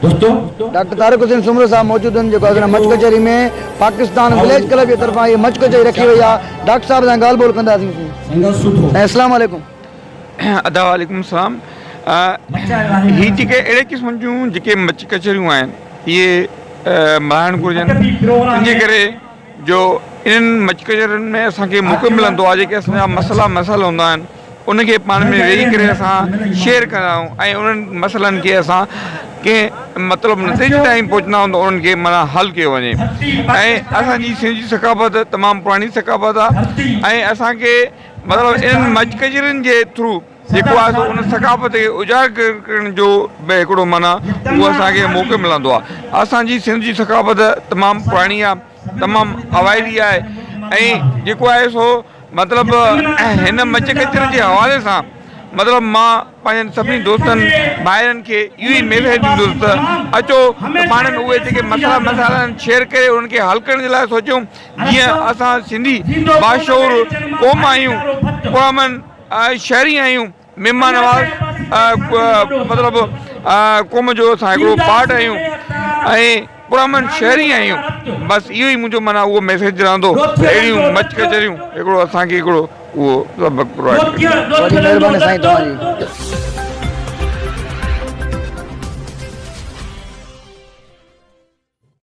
Doctor Tariq Hussain Soomro صاحب موجود هن جيڪو اڳهڻ مچ ڪچهري ۾ پاڪستان وليج ڪلب جي طرفان هي مچ ڪچهري رکي وئي آهي ڊاڪٽر صاحب سان ڳالهه ٻولهه ڪنداسين سين اسلام عليڪم. ادا وعليڪم السلام هي جيڪي اهڙي قسم جون جيڪي مچ ڪچهريون آهن اهي ملهائڻ گهرجن ان جي ڪري جو انهن مچڪجرن ۾ اسان کي موقعو ملندو آهي جيڪي اسان جا مسئلا مسائل هوندا آهن انهن کي پاڻ ۾ ويهي ڪري اسان شيئر ڪندا آهيون ۽ انهن مسئلن کي اسان ڪنهن مطلب نتيجي تائين پهچندا آهيون ته انهن کي معنيٰ حل ڪيو وڃي ۽ اسان جي سنڌ جي ثقافت تمام پراڻي ثقافت آهي ۽ اسان کي مطلب انهن مچڪجرن جي ٿرو جيڪو آهي سو ان ثقافت کي اجاگر ڪرڻ جو به هڪڙو معنيٰ اهو اسان کي موقعو ملندو آهي. اسان جي سنڌ جي ثقافت تمام پراڻي آهي، تمام اوائلي آهي ۽ جيڪو آهي سو مطلب هن مچ ڪچر جي حوالي سان مطلب مان پنهنجن سڀني دوستن ڀائرن کي اهو ئي ميسيج ڏيندس ته اچو ته پاڻ ۾ اهي جيڪي مسئلا مسائل آهن شيئر ڪري انهن کي حل ڪرڻ جي لاء سوچيون جيئن اسان سنڌي باشعور قوم آهيون قومن شهري آهيون مهمان نواز مطلب قوم جو اسان هڪڙو پارٽ آهيون ۽ پرامن شهري آهيون بس اهو ئي منهنجو معنيٰ اهو ميسيج رهندو اهڙيون مچ ڪچهريون هڪڙو اسان کي هڪڙو اهو سبق پرووائيڊ ڪنديون وڏي مهرباني سائين توهان جي.